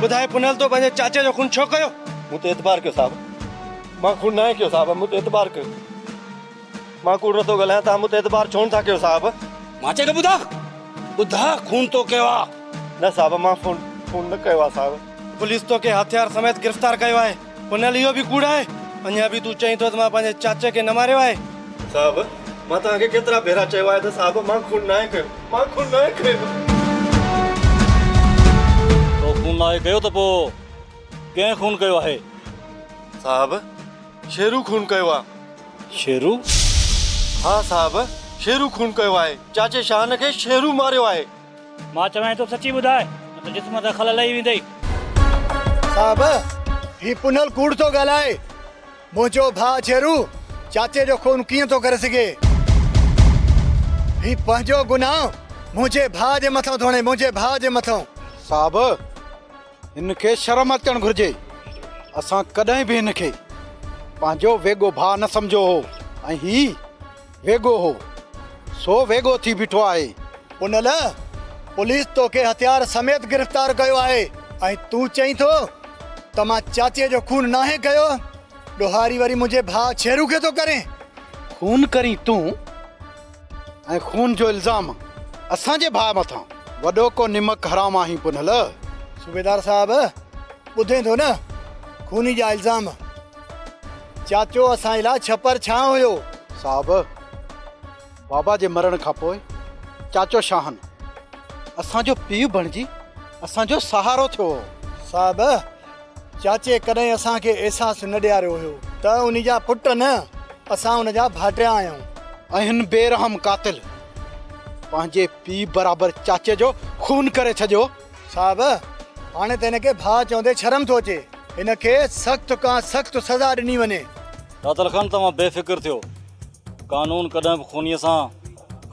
ٻڌاء پنهل تو پنهنجي چاچي جو خون ڇو ڪيو؟ مون تي اعتبار ڪيو صاحب. مان خون ناهي ڪيو صاحب مون تي اعتبار ڪيو. مان ڪوڙ نٿو ڳالهايان توهان مون تي اعتبار ڇو نٿا ڪيو صاحب. مان چئي ٿو ٻڌاء ٻڌاء خون تو ڪيو آ. نه صاحب مان خون خون نه ڪيو آ صاحب. پوليس توکي هٿيار سميت گرفتار ڪيو آهي. پنهل اهو به ڪوڙ آهي. اڃا به تون چئين ٿو ته مان پنهنجي چاچي کي نه ماريو آهي. صاحب، مان توهان کي ڪيترا ڀيرا چيو آهي ته صاحب مان خون ناهي ڪيو. مان خون ناهي ڪيو. تو خون ناهي ڪيو ته پوء ڪنهن خون ڪيو آهي؟ صاحب، شيرو خون ڪيو آهي. شيرو؟ ها صاحب، شيرو خون ڪيو آهي. چاچي شاهن کي شيرو ماريو آهي. مان چوانء ٿو سچي ٻڌاء نه ته جسم تان خل لهي ويندئي. صاحب هي پنهل ڪوڙ ٿو ڳالهائي. منهنجو ڀاء جيرو چاچي جو خون ڪيئن ٿو ڪري سگهي. هي پنهنجو گناهه منهنجي ڀاء جي مٿان ٿو هڻي منهنجي ڀاء جي مٿان. صاحب! هن کي شرم اچڻ گهرجي. اسان ڪڏهن به هن کي پنهنجو ويڳو ڀاء نه سمجهيو هو ۽ هي ويڳو هو، سو ويڳو ٿي بيٺو آهي. ان لاء پوليس توکي هٿيار سميت گرفتار ڪيو آهي ۽ تون چئين ٿو ته مان چاچي جو خون ناهي ڪيو؟ ڏوهاري وري منهنجي ڀاء ڇيرو کي ٿو ڪرين. خون ڪرين تون. ۽ خون جو الزام اسان جي ڀاء مٿان وڏو ڪو نمڪ حرام آهين پنهل. صوبيدار صاحب ٻڌين ٿو نه خوني جا الزام چاچو اسان جي لا ڇپر ڇانء هيو. صاحب بابا جي مرڻ کان پوء چاچو شاهن اسان جو پيء بڻجي اسان جو سهارو ٿيو هو. صاحب چاچي ڪڏهن اسان کي احساس نه ڏياريو هيو ته ان جا پٽ نه اسان ان جا ڀائٽيا آهيون. اهن بي رحم قاتل پنهنجي پيء برابر چاچي جو خون ڪري ڇڏيو. صاحب هاڻي ته هن کي ڀاء چوندي شرم ٿو اچي هن کي سخت کان سخت سزا ڏني وڃي. قاتل خان توهان بي فڪر ٿيو قانون ڪڏهن به خونيء سان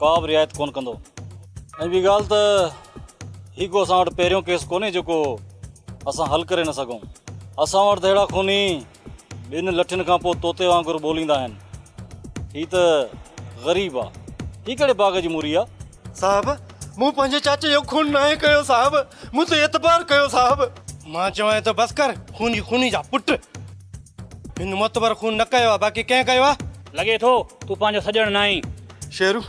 ڪا به رعايت ڪونه ڪندو ۽ ٻي ڳالهه ته هي ڪو اسان وٽ پهريون ڪيس ڪونهي جيڪو اسان حل ڪري نه سگهون. اسان وٽ ته اهڙا خوني ٻين لٺين کان پوء طوطي وانگر ٻوليندا آهن. هي ته غريب آ. هي ڪهڙي باغ جي موري آ؟ صاحب! مون پنهنجي چاچي جو خون ناهي ڪيو صاحب. مون تي اعتبار ڪيو صاحب. مان چوانء ته بس ڪر. خوني خوني جا پٽ. هن معتبر خون نه ڪيو آ باقي ڪنهن ڪيو آ؟ لڳي ٿو تون پنهنجو سڄڻ ناهين. شيرو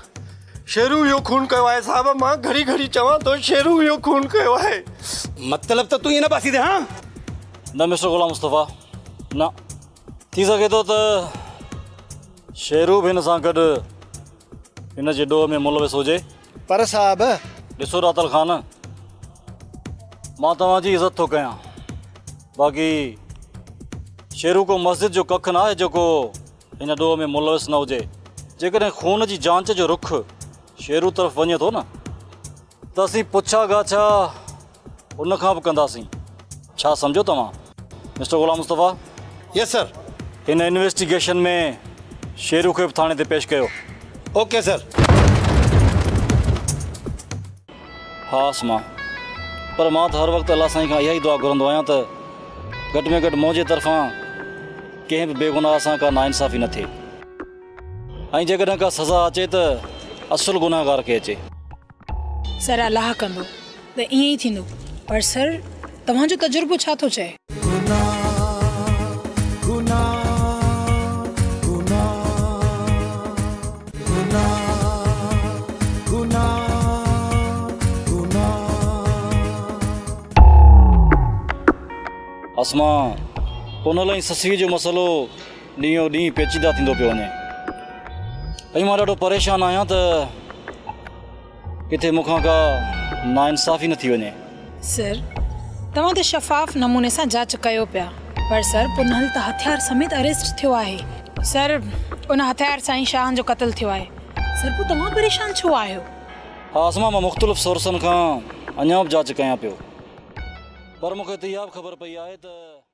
شيرو اهو خون ڪيو آهي صاحب مان گهڙي گهڙي چوان ٿو شيرو اهو خون ڪيو آهي مطلب ته تون هن پاسي تي ها نه مسٽر غلام مصطفيٰ نه ٿي سگهي ٿو ته شيرو به هن سان گڏ هن جي ڏوهه ۾ ملوث هجي پر صاحب ڏسو راتل خان مان توهان جي عزت ٿو ڪيان باقي شيرو ڪو مسجد جو ڪک نه آهي جيڪو ان ڏوهه ۾ ملوث نه هجي. جيڪڏهن خون جي جانچ جو رخ شيرو طرف وڃي ٿو نه ته اسين پڇا ڳاڇا ان کان به ڪنداسين. ڇا سمجهيو توهان mister Ghulam Mustafa? Yes sir. هن انويسٽيگيشن ۾ شيرو کي به ٿاڻي تي پيش ڪيو. Okay sir. هئس مان پر مان ته هر وقت الله سائين کان اها ئي دعا گهرندو آهيان ته گهٽ ۾ گهٽ منهنجي طرفان ڪنهن به بيگناهه سان ڪا ناانصافي نه ٿئي ۽ جيڪڏهن ڪا سزا اچي ته اصل گناهگار کي اچي. سر الله ڪندو ته ائين ئي ٿيندو پر سر توهان جو تجربو ڇا ٿو چئي؟ اسما، پونل ۽ سسئي جو مسئلو ڏينهون ڏينهن پيچيده ٿيندو پيو وڃي ۽ مان ڏاڍو پريشان آهيان ته. ڪٿي مون کان ڪا ناانصافي نه ٿي وڃي. سر، توهان ته شفاف نموني سان جاچ ڪيو پيا. پر سر، پنهل ته هٿيار سميت اريسٽ ٿيو آهي. سر، ان هٿيار سان ئي شاهان جو قتل ٿيو آهي. سر، پوء توهان پريشان ڇو آهيو؟ ها اسما، مان مختلف سورسن کان اڃا به جاچ ڪيان پيو. پر مون کي ته اها به خبر پئي آهي ته.